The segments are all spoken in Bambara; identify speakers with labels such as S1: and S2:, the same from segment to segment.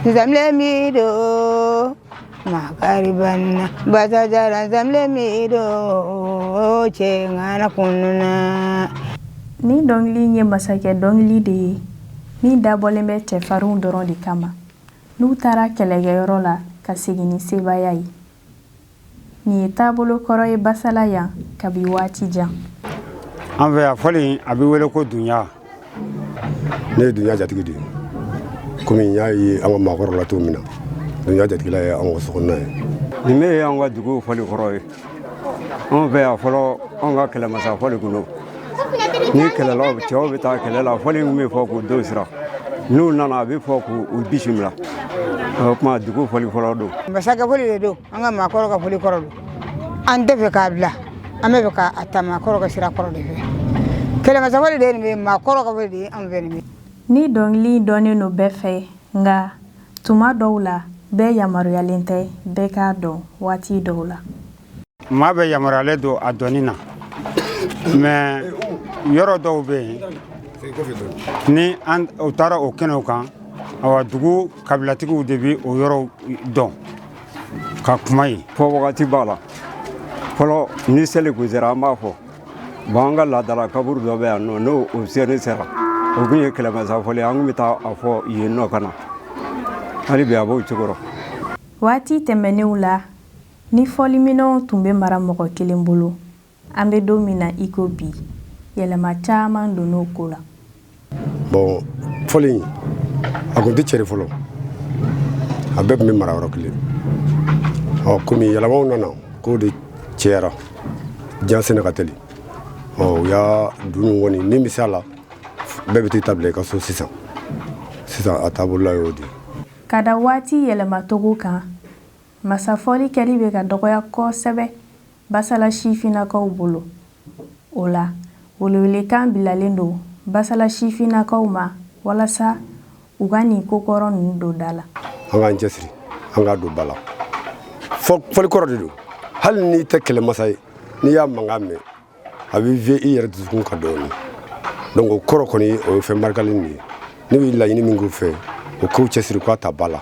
S1: zamle mi do makariban bata jara zamle mi do ce ngana kununa
S2: nin dɔnkili ye masakɛ dɔnkili de ye min dabɔlen bɛ cɛfarinw dɔrɔn de kama n'u taara kɛlɛkɛyɔrɔ la ka segin ni sebaaya ye Nin ye taabolo kɔrɔ ye basala yan kabi waati jan an
S3: fɛ yan fɔli a bɛ wele ko dunya
S4: ne ye dunya jatigi de ye kɔmi y'a ye an ka maakɔrɔw la cogo min na dunya jatigila ye an ka sokɔnɔna ye nin bɛ ye an ka
S3: dugu fɔli kɔrɔ ye an fɛ yan fɔlɔ an ka kɛlɛmasa fɔli kun don ni kɛlɛlaw cɛw bɛ taa kɛlɛ la fɔli min bɛ fɔ k'u don sira n'u nana a bɛ fɔ k'u bisimila o tuma dugu fɔli fɔlɔ don masakɛ fɔli de don
S1: an ka maakɔrɔw ka fɔli kɔrɔ don an tɛ fɛ k'a bila an bɛ fɛ k'a ta maakɔrɔw ka sira kɔrɔ de fɛ kɛlɛmasa fɔli de ye nin bɛ maakɔrɔw ka fɔli de ye an fɛ nin bɛ nin dɔnkili dɔnnen don
S2: bɛɛ fɛ nka tuma dɔw la bɛɛ yamaruyalen tɛ bɛɛ k'a dɔn waati dɔw la maa
S3: bɛɛ yamaruyalen don a dɔnni na mais yɔrɔ dɔw bɛ yen ni anw taara o kɛnɛw kan awa dugu kabilatigiw de bɛ o yɔrɔw dɔn ka kuma yen fɔ wagati b'a la fɔlɔ ni seli kun sera an b'a fɔ bon an ka laadala kaburu dɔ bɛ yan nɔ n'o seli sera o kun ye kɛlɛmasafɔli an kun bɛ taa a fɔ yen nɔ ka na hali bi a b'o cogo rɔ waati
S2: tɛmɛnenw la Nin fɔliminɛnw tun bɛ mara mɔgɔ kelen bolo, an bɛ don min na i ko bi, yɛlɛma caman donna o ko la. Bon
S4: fɔli in, a kun tɛ cɛri fɔlɔ, a bɛɛ tun bɛ mara yɔrɔ kelen. Ɔ komi yɛlɛmaw nana, kow de cɛyara, diɲɛ senna ka teli, ɔ u y'a dunun kɔni min bɛ se a la, bɛɛ bɛ t'i ta bila i ka so sisan. Sisan a taabolola y'o de ye. Ka da waati
S2: yɛlɛmacogo kan, Masafɔli kɛli bɛ ka dɔgɔya kosɛbɛ Basala sifinnakaw bolo. O la, welewelekan bilalen don Basala sifinnakaw ma walasa u ka nin ko kɔrɔ ninnu don da la. An k'an
S4: cɛsiri an k'a don ba la. Fɔli kɔrɔ de don. Hali n'i tɛ kɛlɛmasa ye, n'i y'a mankan mɛn, a bɛ vie i yɛrɛ dusukun kan dɔɔni donc ko kɔrɔ kɔni o ye fɛn barikalen de ye ne bɛ laɲini min k'u fɛ u k'u cɛsiri k'a ta ba la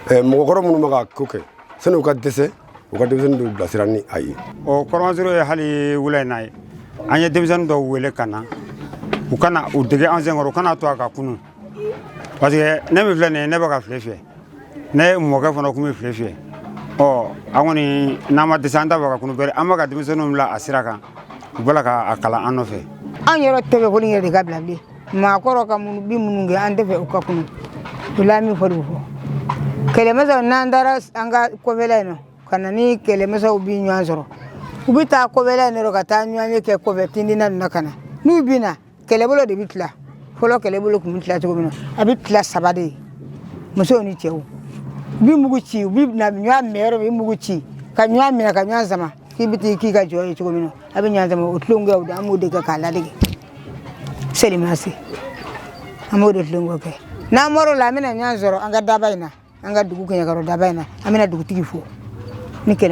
S4: eh, mɔgɔkɔrɔ minnu bɛ ka ko kɛ sani u ka dɛsɛ u ka denmisɛnnin dɔw bilasira ni a ye o kɔrɔmasiro ye
S3: hali wula in na ye an ye denmisɛnnin dɔw wele ka na u ka na u dege an senkɔrɔ u kana to a ka kunu parce que ne min filɛ nin ye ne bɛ ka file fiyɛ ne mɔkɛ fana tun bɛ file fiyɛ ɔ an kɔni n'an ma dɛsɛ an t'a fɛ ka kunu bɛrɛ an bɛ ka denmisɛnninw bila a sira kan u b'a la k'a kalan an nɔfɛ an yɛrɛ tɛ fɛ ko
S1: nin yɛrɛ de ka bila bilen maakɔrɔ ka minnu bi minnu kɛ an tɛ fɛ u ka kunu o la an bɛ fɔ de fɔ kɛlɛmasaw n'an taara an ka kɔfɛla in na ka na ni kɛlɛmasaw bi ɲɔgɔn sɔrɔ u bɛ taa kɔfɛla in na ka taa ɲɔgɔnye kɛ kɔfɛ tindina ninnu na ka na n'u bɛ na kɛlɛbolo de bɛ tila fɔlɔ kɛlɛbolo tun bɛ tila cogo min na a bɛ tila saba de ye musow ni cɛw bi mugu ci u bi na ɲɔgɔn minɛ yɔrɔ min mugu ci ka ɲɔgɔn minɛ ka ɲɔgɔn sama k'i bɛ taa k'i kɛ jɔn ye cogo min na a bɛ ɲɔgɔn sama o tulonkɛ o de an b'o de kɛ k'a ladege seli ma se an b'o de tulonkɛ kɛ n'an bɔr'o la an bɛna ɲɔgɔn sɔrɔ an ka daba in na an ka dugu kɛɲɛkɔrɔ daba in na an bɛna dugutigi fo ni kɛlɛ